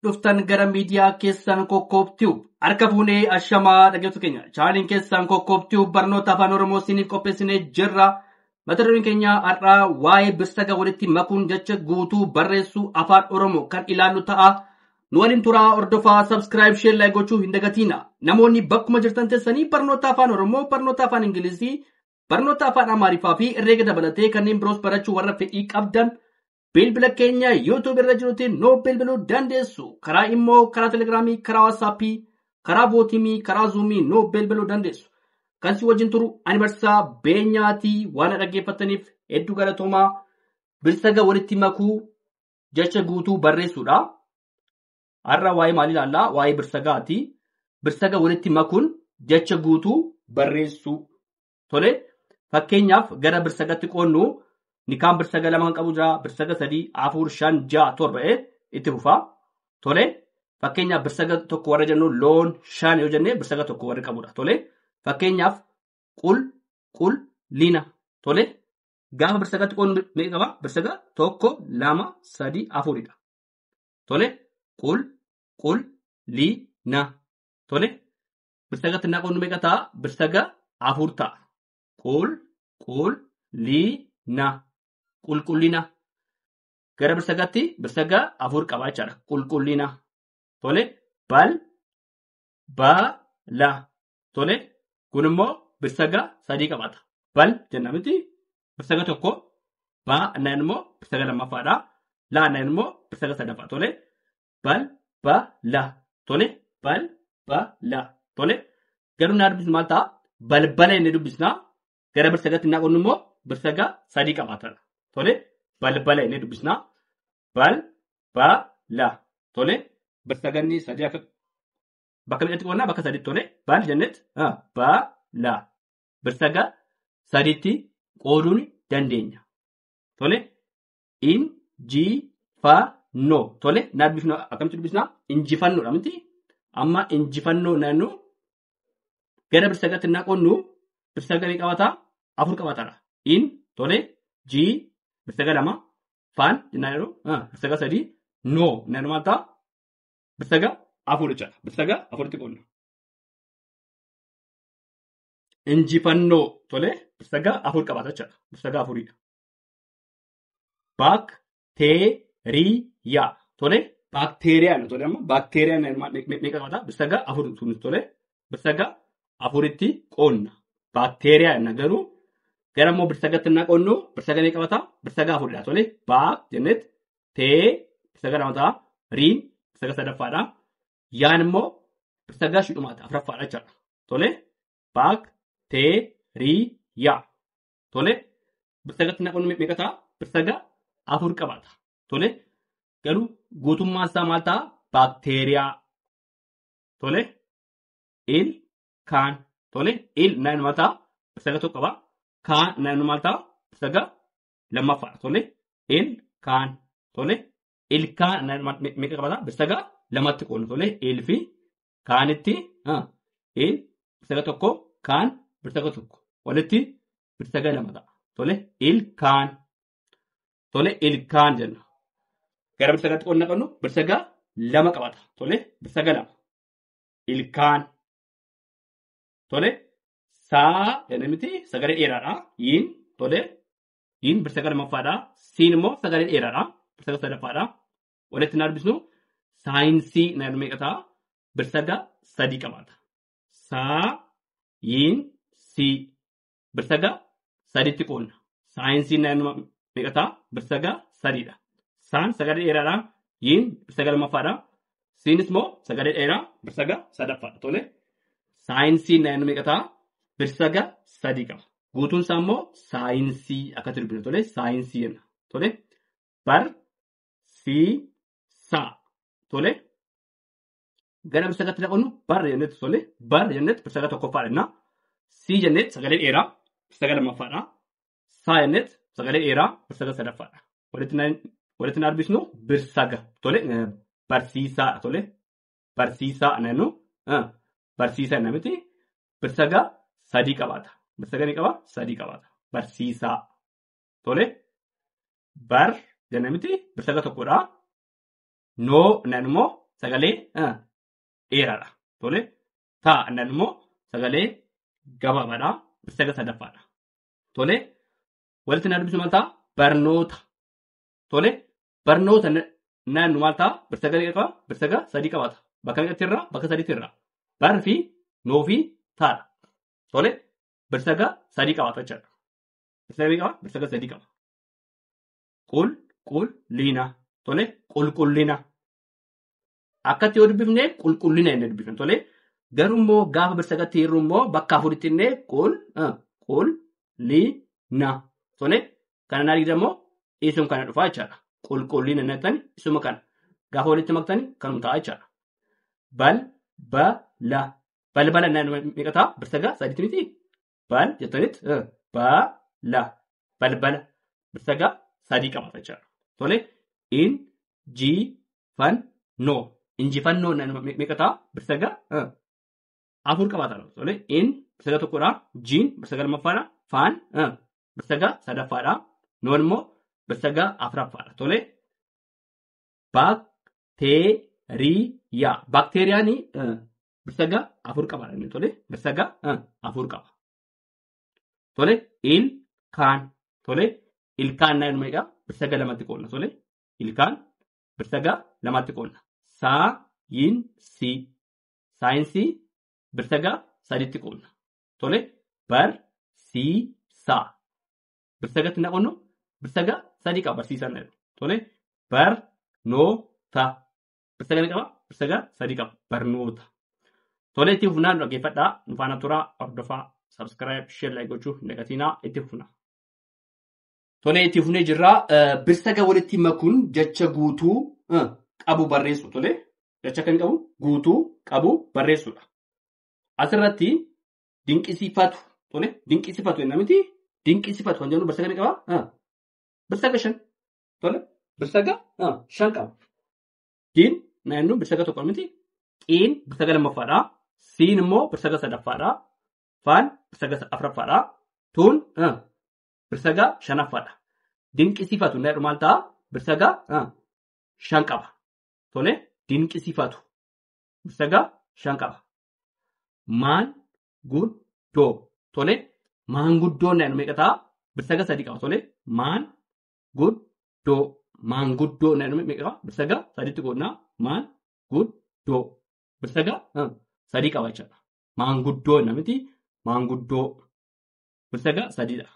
dhuftan gara miidiyaa keessan kokkoob tube harka fuunee ashamaa dhaggeeffattoota keenya chaanaliin keessan kokkoob tube barnoota afaan oromoo isiniif qopheessinee jirra mata dureen keenya har'aa waa'ee birsaga walitti makuun jecha guutuu barreessuu afaan oromoo kan ilaallu ta'a nu waliin turaa hordofaa sabskiraayib sheer laayik gochuu hin dagatiina namoonni bakkuma jirtan teessanii barnoota afaan oromoo barnoota afaan ingilizii barnoota afaan amaariffaa fi herreega dabalatee kanneen biroos barachuu warra fedhii qabdan Bilbila keenya YouTube irra jirutti nu bilbiluu dandeessu. Karaa immoo karaa Telegiraamii, karaa Waatsaappii, karaa Vootimii, karaa Zuumii nu bilbiluu dandeessu. Kan si wajjin turu ani barsiisaa beenyaatii waan dhaggeeffattaniif hedduu galatoomaa. Bilsaga walitti makuu jecha guutuu barreessuudha. Har'a waa'ee maalii ilaallaa? Waa'ee birsagaati. Birsaga walitti makuun jecha guutuu barreessuu. Tole fakkeenyaaf gara birsagatti qoodnu nikaan birsaga lama kan qabu jira birsaga sadii afur shan ja'a torba ee itti fufa. Tole fakkeenyaaf birsaga tokko warra jennu loon shan yoo jenne birsaga tokko warri qabudha. Tole fakkeenyaaf qul qul lina tole gaafa birsagatti qoodnu meeqa qaba birsaga tokko lama sadii afuridha. Tole qul qul lina tole birsaga xinnaa qoodnu meeqa ta'a? Birsaga afur ta'a. Qul, qul, lii, na. Qulqullina. Gara birsagatti birsaga afur qaba jechaadha. Qulqullina. Tole, bal, ba, la. Tole, kun immoo birsaga sadii qabaata. Bal jenna miti birsaga tokko, ba naan immoo birsaga lammaffaadha. La naan immoo birsaga sadaffaa. Tole, bal ba la tole bal ba la tole garuu naa dubbisnu maal ta'a balbala inni dubbisna gara birsagaatti naa qonnu immoo birsaga sadii qabaatana tole balbala inni dubbisna bal ba la tole birsaganni sadii akka bakka meeqatti qonnaa bakka sadiitti tole bal jennet ba la birsaga sadiitti qooduun dandeenya tole in ji fa no tole na dubbifna akkamitti dubbisna injifannoodha miti amma injifannoo naannu gara birsagatti na qonnu birsaga ni qabata afur qabatara in tole ji birsaga lama faan jennaan yeroo ah, birsaga sadii no naannu maal ta'a birsaga afur jechaadha birsaga afuritti qonna injifannoo tole birsaga afur qabata jechaadha birsaga afuridha Baakteeriyaa. Tole? Baakteeriyaa nu tole amma. Baakteeriyaa meeqa qabata? Birsagaa afur nu tole. Birsagaa afuritti qoonna. Baakteeriyaa jenna garuu gara immoo birsagatti na qoonnu birsaga ni qabata. Birsaga afuridha tole. Baak jennet tee birsaga lama ta'a. Riin birsaga sadaffaadha. Yaan immoo birsaga shidhumaata afraffaadha jechaadha. Tole. Baak tee rii yaa. Tole birsagatti naqoon meeqa ta'a? Birsaga afur qabaata. Tole garuu guutummaan isaa maal ta'a? Baakteeriyaa. Tole il kaan. Tole il naan maal ta'a? Birsaga tokko qaba. Kaan naan maal ta'a? Birsaga lammaffaa. Tole il kaan. Tole il kaan naan maal- me- meeqa qabaata? Birsaga lamatti qoodna. Tole il fi kaanitti ha, i birsaga tokko kaan birsaga tokko walitti birsaga lama ta'a. Tole ilkaan tole ilkaan jenna. Gara birsagaatti qonna qabnu birsaga lama qabata. Tole birsaga lama ilkaan tole saa jenna miti sagalee dheeraadha. Yiin tole yiin birsaga lammaffaadha. Siin immoo sagalee dheeraadha. Birsaga sadaffaadha. walitti hin arbisnu saayinsii na jedhu meeqa ta'a birsaga sadii qabaata saa yiin sii birsaga sadiitti qoonna saayinsii na jedhu meeqa ta'a birsaga sadiidha saan sagalee dheeraadha yiin birsaga lammaffaadha siinis immoo sagalee dheeraa birsaga sadaffaadha tole saayinsii na jedhu meeqa ta'a birsaga sadii qaba guutuun isaa immoo saayinsii akkatti dubbina tole saayinsii jenna tole bar si sa tole gara birsagatti dhaqannu bar jennetti tole bar jennetti birsaga tokkoffaa jenna si jennetti sagalee dheeraa birsaga lammaffaadha saa jennetti sagalee dheeraa birsaga sadaffaadha walitti na walitti na arbisnu birsaga tole eh, barsiisaa tole barsiisaa nannu eh, barsiisaa na miti birsaga sadii qabaata birsaga ni qaba sadii qabaata barsiisaa Tole bar jenna miti bir sagal tokkodha. Noo nan immoo sagalee ah, dheeraadha. Tole taa nan immoo sagalee gabaabaadha. Bir sagal sadaffaadha. Tole walitti na dubbisu maal ta'a? Barnoota. Tole barnoota na- naannu maal ta'a? Bir sagal qaba. Bir sagal sadii qabaata. Bakka meeqatti irraa? Bakka sadiitti irraa. Bar fi noo fi taadha. Tole bir sagal sadii qabaata jechuudha. Birsaga meeqa qaba? Birsaga sadii qaba. Qul, qul, liina. Tole, qulqullina. Akkatti yoo dubbifne qulqullina inni dubbifne. Tole, garuu immoo gaafa birsagatti hirru immoo bakka afuritti inni qul, ah, qul, li, na. Tole, kana naa dhiisan immoo isin kana dhufaa jechaadha. Qulqullina inni jettani isuma kana. Gaafa walitti maktani kanuma ta'a jechaadha. Bal, ba, la. Balbala inni meeqa ta'a? Birsaga sadiitti miti. Bal jettanitti eh, bala balbala birsagaa sadii qabata jechaadha. Tole in ji fan no injifannoo na- me- meeqa ta'a birsagaa eh, afur qabaata. Tole in birsagaa tokkodha jiin birsagaa lammaffaadha faan eh, birsagaa sadaffaadha noon immoo birsagaa afraffaadha. Tole baakteeriyaa baakteeriyaan eh, birsaga afur qaba inni tole birsaga ah, afur qaba tole il kaan tole ilkaan naan meeqa birsaga lamatti qoodna tole ilkaan birsaga lamatti qoodna saa yin si saayinsii birsaga saditti qoodna tole bar si saa birsagatti na qonno birsaga sadii qaba barsiisan na jedhu tole bar no ta Lakkoofsa meeqa qaba? Lakkoofsa egaa sadii qaba. Barnoota. Tolee itti fufnaa nu dhaggeeffadhaa. Nu faana turaa, hordofaa, subscribe, share, like gochuu hin dagatinaa. Itti fufnaa. Tolee itti fufnee jirra. Eh, Birsaga walitti makuun jecha guutuu eh, qabu barreessu tolee. Jecha kan qabu guutuu qabu barreessudha. Asirratti dinqisiifatu tolee dinqisiifatu jenna miti. Dinqisiifatu kan jennu birsaga ni qaba. Eh, Birsaga shan. Tole birsaga ah, shan qaba. Diin naannoon birsaga tokko miti. Xiin birsaga lammaffaadha. Siin immoo birsaga sadaffaadha. Faan birsaga afraffaadha. Tuun ah, birsaga shanaffaadha. Dinqisiifatu naannoo maal ta'a? Birsaga ah, shan qaba. Tole dinqisiifatu birsaga shan qaba. Maan guddoo tole maanguddoon naannoo meeqa ta'a? Birsaga sadii qaba tole maan guddoo maanguddoo na jedhame meeqa qaba? Birsagaa sadiitti qoodnaa maan guddoo birsagaa ah, sadii qaba jechuudha. Maanguddoo na miti maanguddoo birsagaa sadiidha.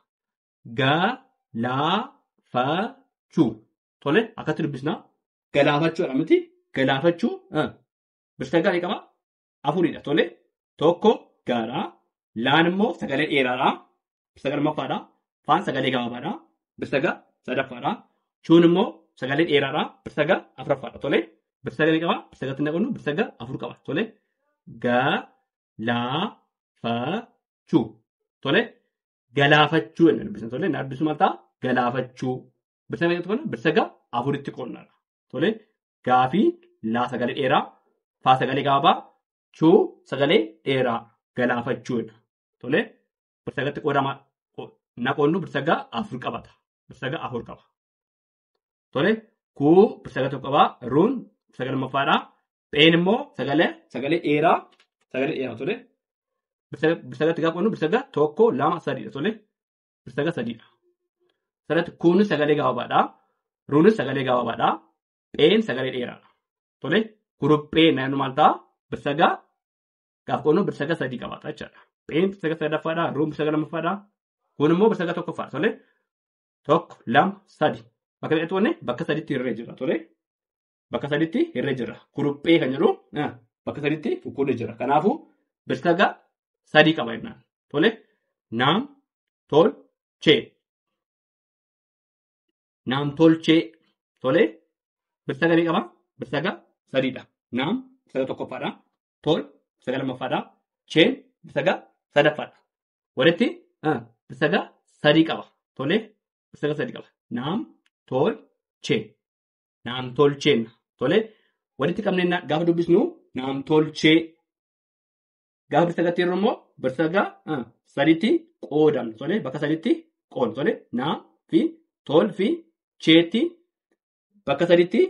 Galaafachuu tole akkatti dubbisnaa galaafachuu na miti galaafachuu ah, birsagaa ni qaba afuridha tole tokko gaadha laan immoo sagalee dheeraadha birsaga lammaffaadha faan sagalee gabaabaadha birsaga sadaffaadha chuun immoo sagalee dheeraadha birsaga afraffaadha tole birsaga ni qaba birsagatti hin naqannu birsaga afur qaba tole ga laa fa chuu tole galaafachuu jenna dubbisna tole na dubbisu maal ta'a galaafachuu birsa meeqatti qonna? Birsa gaa afuritti qonna. Tole gaafii laa sagalee dheeraa faa sagalee gaabaa chuu sagalee dheeraa galaafachuudha. Tole birsa gatti qoodama na qonnu birsa gaa afur qabata. Birsa gaa afur qaba. Tole kuu birsa gaa tokko qabaa ruun birsa gaa lammaffaadhaa. Pheen immoo sagalee sagalee dheeraa sagalee dheeraa tole. Birsa gatti gaa qonnu birsa gaa tokko lama sadiidha tole. saga sadiidha. Sanatti kuunis sagalee gabaabaadha. Ruunis sagalee gabaabaadha. Pheen sagalee dheeraadha. Tole kuruphee naannoo maal ta'a? Birsaga gaaf qoonnoo birsaga sadii qabaata jechaadha. Pheen birsaga sadaffaadha. Ruun birsaga lammaffaadha. Kun immoo birsaga tokkoffaadha. Tole tokko lama sadi. Bakka meeqatti wanne bakka sadiitti hirree jira. Tole bakka saditti hirree jira. Kuruphee kan jedhu ah, bakka saditti kukkuudhee jira. Kanaafuu birsaga sadii qaba jennaan. Tole naam tol chee. Naam tol chee. Tole birsaga ni qaba. Birsaga sadiidha. Naam birsaga tokkoffaadha. Tol birsaga lammaffaadha. Cheen birsaga sadaffaadha. Walitti ah, birsaga sadii qaba. Tole birsaga sadii qaba. Naam tol chee. Naamtolcheen. Tole walitti qabnee na- gaafa dubbisnu naamtolchee gaafa barsiisa gatti yeroo immoo barsiisa gaa ah, sadiitti qoodamna. Tole bakka sadiitti qoodna. Tole naa fi tol fi cheetti bakka sadiitti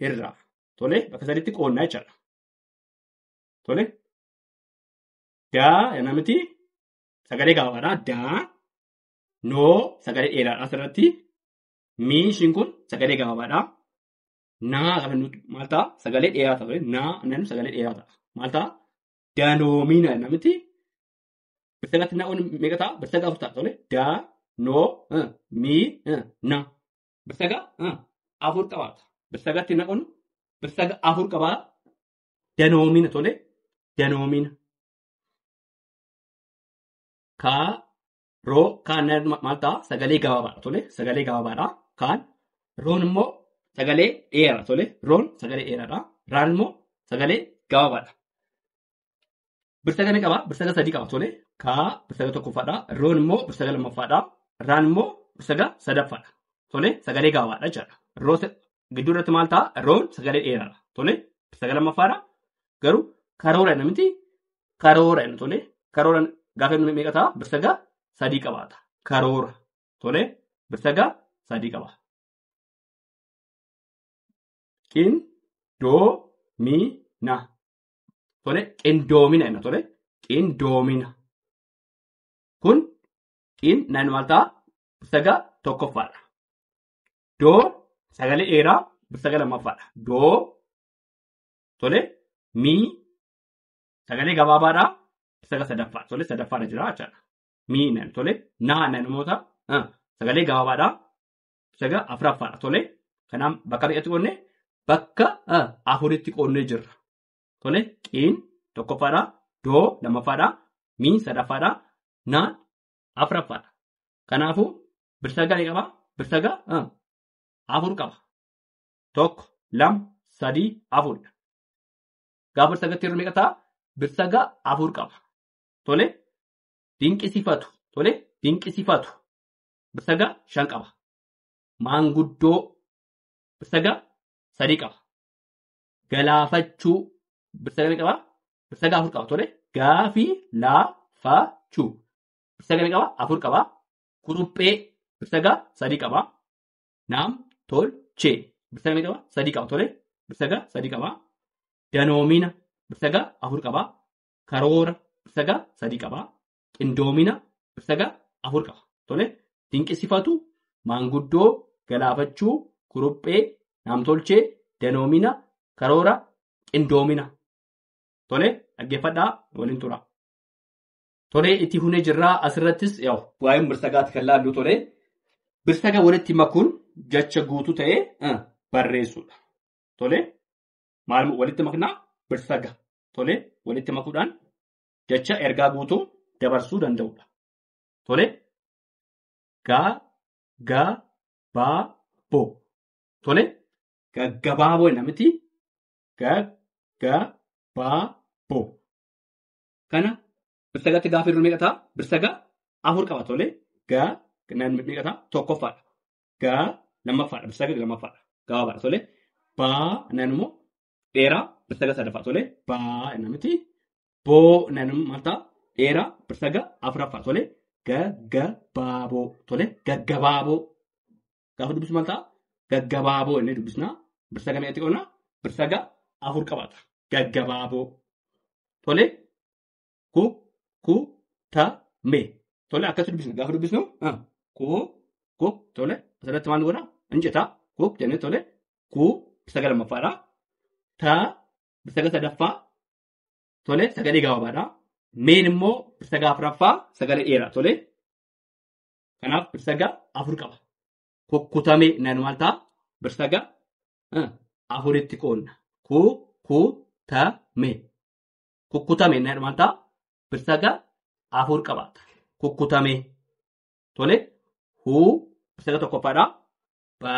hirraa. Tole bakka sadiitti qoodna jechaadha. Tole daa jennaan miti sagalee gaafaadha. Daa noo sagalee dheeraadha asirratti Mii ishiin kun sagalee gabaabaadha. Naa gaafa jennu maal ta'a? Sagalee dheeraa ta'a. ture. Naa jennu sagalee dheeraa ta'a. Maal ta'a? Danoomina jenna miti. Birsaatti naa'uun meeqa ta'a? Birsaatti afur ta'a. Tole. Da, no, eh, mi, eh, na. Birsaga eh, afur qabaata. Birsagatti naa'uun birsaga afur qabaa. Danoomina tole. Danoomina. Ka, Roo kaan maal ta'a? Sagalee gabaabaadha tole. Sagalee gabaabaadha. Kaan roon immoo sagalee dheeraadha tole. Roon sagalee dheeraadha. Raan immoo sagalee gabaabaadha. Birsaga ni qaba. Birsaga sadii qaba tole. Kaa birsaga tokkoffaadha. Roon immoo birsaga lammaffaadha. Raan immoo birsaga sadaffaadha. Tole sagalee gabaabaadha jechaadha. Roo gidduu irratti maal ta'a roon sagalee dheeraadha tole sagalee lammaffaadha garuu karoora inni miti karoora inni tole karoora gaafa inni meeqa ta'a birsagaa sadii qabaata karoora tole birsagaa sadii qaba qin doo mi na tole qindoomina inni tole qindoomina kun qin naan maal ta'a birsagaa tokkoffaadha Doo sagalee eeraa sagalee lammaffaadha. Doo tole mii sagalee gabaabaadha sagalee sadaffaa tole sadaffaadha jira jechaadha. Mii nan tole naa nan immoo ta'a ah, sagalee gabaabaadha saga afuraffaadha tole kanaaf bakka meeqatti qoodne bakka ah, afuritti qoodnee jirra. Tole qiin tokkoffaadha doo lammaffaadha mii sadaffaadha naan afraffaadha. Kanaafuu birsaga ni qaba. Birsaga ah, afur qaba. Tokko, lama, sadii, afuridha. Gaafa birsagatti yeroo meeqa ta'a? Birsaga afur qaba. Tole dinqisifatu. Tole dinqisifatu. Birsaga shan qaba. Maanguddoo birsaga sadii qaba. Galaafachuu birsaga ni qaba. Saga afur qaba tole. Gaafi laa fa chu. Saga ni qaba afur qaba. Kuruphee saga sadii qaba. Naam tol chee. Saga ni qaba sadii qaba tole. Saga sadii qaba. Danoomina saga afur qaba. Karoora saga sadii qaba. Qindoomina saga afur qaba tole. Dinqisifatu maanguddoo galaafachuu kuruphee naamtolchee danoomina karoora qindoomina Tole dhaggeeffadhaa waliin tura. Tole itti hunee jirraa asirrattis yaa'u. Waa'ee birsagaatti kan laallu tole. Birsaga walitti makuun jecha guutuu ta'ee eh, barreessuudha. Tole maal walitti maknaa birsaga tole walitti makuudhaan jecha ergaa guutuu dabarsuu danda'udha. Tole gaa gaa baa boo tole gaggabaaboo namiti gag, ga, ba, bo. Kana birsagatti gaafa hirru meeqa ta'a? Birsaga afur qaba tole. Ga, nan meeqa ta'a? Tokkoffaadha. Ga, lammaffaadha. Birsaga lammaffaadha. Gabaabaadha tole. Ba, nan immoo dheeraa birsaga sadaffaa tole. Ba, nan miti. Bo, nan immoo maal ta'a? Dheeraa birsaga afuraffaa tole. Gaggabaaboo tole. Gaggabaaboo. Gaafa dubbisu maal ta'a? Gaggabaaboo inni dubbisna. Birsa gamee itti qonna. Birsa ga afur qabaata. Gaggabaaboo. Tole ku ku ta me. Tole akkasii dubbisna. Gaafa dubbisnu ah, ku ku tole asirratti maal godha? Hin jeta. Ku jennee tole ku birsa ga lammaffaadha. Ta birsa ga sadaffaa tole sagalee gabaabaadha. Meen immoo birsa ga afraffaa sagalee dheeraa tole. Kanaaf birsaga afur qaba. Kukkutamee nan maal ta'a? Birsaga eh, afuritti qoodna. Ku, ku, ta, me. Kukkutamee nan maal ta'a? Birsaga afur qabaata. Kukkutamee. Tole. Hu, birsaga tokkoffaadha. Ba,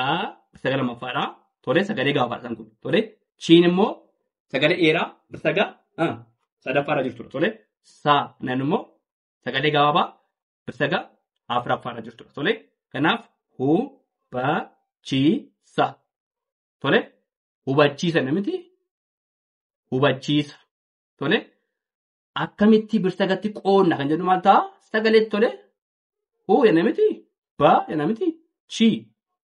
birsaga lammaffaadha. Tole, sagalee gaafaadha isaan kun. Tole, chiin immoo sagalee dheeraa birsaga eh, sadaffaarra jirtudha. Tole, sa, nan immoo sagalee gabaabaa Saga afraffaarra jirtudha. Tole kanaaf hubachiisa. Tole hubachiisa namiti hubachiisa. Tole akkamitti birsagatti qoonna kan jedhu maal ta'a? Sagalee tole huu yana miti ba yana miti chi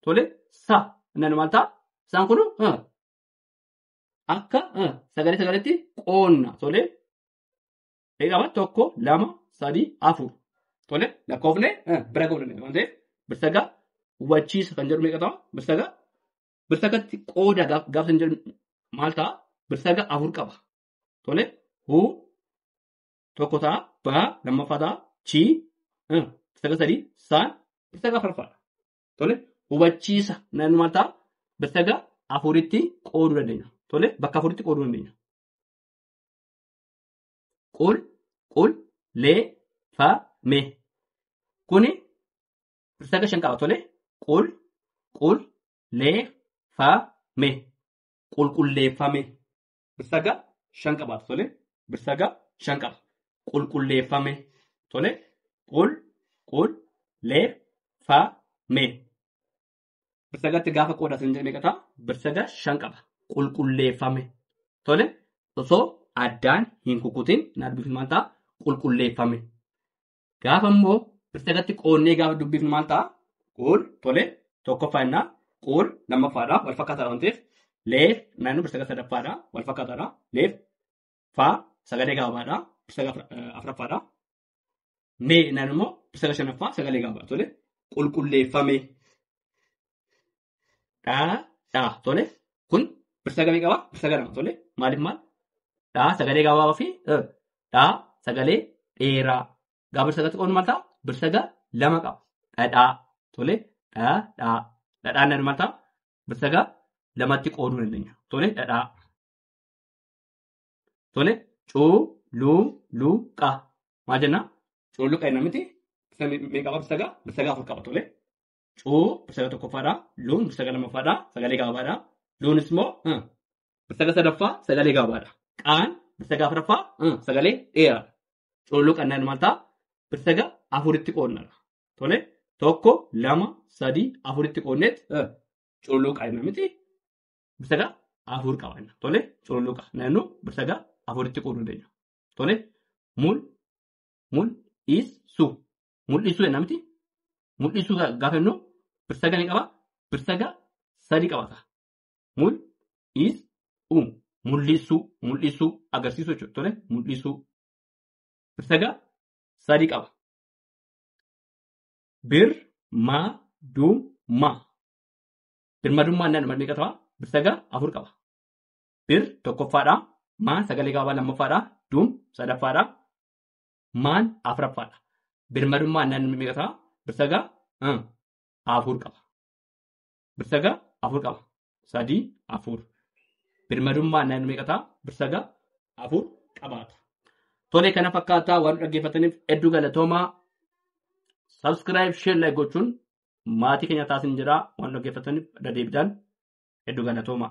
tole sa nan maal ta'a? Isaan kun eh, akka eh, sagalee sagaleetti qoonna tole Ni qaba tokko lama sadii afur. Tole lakkoofne eh, bira ga'uu dandeenya waan ta'eef birsaga hubachiisa kan jedhu meeqa ta'a? Birsaga birsagatti qooda gaaf gaaf kan jedhu maal ta'a? Birsaga afur qaba. Tole hu tokko ta'a ba lammaffaa ta'a chi eh, birsaga sadii saan birsaga afurffaadha. Tole hubachiisa naannoo maal ta'a? Birsaga afuritti qooduu dandeenya. Tole bakka afuritti qooduu dandeenya. qul qul lee fa me kuni pirsaga shan qaba tole qul qul lee fa me qulqulleeffame birsaga shan qaba tole birsaga shan qaba qulqulleeffame tole qul qul lee fa me birsagartti gaafa qoodatan jedhe meeqa ta'a? Birsaga shan qaba. Qulqulleeffame. Tole osoo addaan hin kukutin hin dubbifnu maal ta'a? Qulqulleeffame. Gaafa immoo birsagatti qoonnee gaafa dubbifnu maal ta'a? Quul tole tokkoffaa innaa quul lammaffaadha wal fakkaataadha waan ta'eef leef naannoo birsaga sadaffaadha wal fakkaataadha leef faa sagalee gabaabaadha birsaga afraffaadha Mee jennaan immoo ibsata shanaffaa sagalee gaafaa tole qulqulleeffamee dhaa dhaa tole kun birsa gamii qaba birsa ganama tole maaliif maal dhaa sagalee gabaabaa fi eh, dhaa sagalee dheeraa gaa birsa gatti qoodnu maal ta'a birsa ga lama qaba dhadhaa tole dhaa dhaa dhadhaan nan maal ta'a birsa ga lamatti qooduu dandeenya tole dhadhaa Tole cuu luu luu qa maal jenna? Cululuqa jenna miti. Birsaga me- meeqa qaba birsaga? Birsaga afur qaba tole. Cuu birsaga tokkoffaadha. Luun birsaga lammaffaadha. Sagalee gabaabaadha. Luunis immoo huh, birsaga sadaffaa sagalee gabaabaadha. Qaan birsaga afuraffaa huh, sagalee dheeraadha. Cululuqa jennaan maal ta'a? Birsaga afuritti qoodnadha. Tole tokko lama sadii afuritti qoodneet huh, cululuqa jenna miti. birsagaa afur qaba jenna. Tole cululuqa naannoo birsagaa afuritti qooduu dandeenya. Tole mul mul is su mul'isuu jenna miti mul'isuu gaa- gaafa jennu birsaga ni qaba birsaga sadi qabata. Mul is u mul'isuu mul'isuu agarsiisuu jechuudha. Tole mul'isuu birsaga sadi qaba. Bir ma dum ma Birmadummaan naannoo maal meeqa ta'a? Bir saga afur qaba. Bir tokkoffaadha. Maan sagalee gabaabaa lammaffaadha. Duum sadaffaadha. Maan afraffaadha. Birmadummaan naannoo meeqa ta'a? Bir saga ah, afur qaba. Bir saga afur qaba. Sadii afur. Birmadummaan naannoo meeqa ta'a? Bir saga afur qabaata. Tole kana fakkaataa waan dhaggeeffataniif hedduu galatoomaa. Subscribe, share, like gochuun maatii keenya taasin jedhaa waan dhaggeeffataniif irra deebiidhaan hedduu galatoomaa.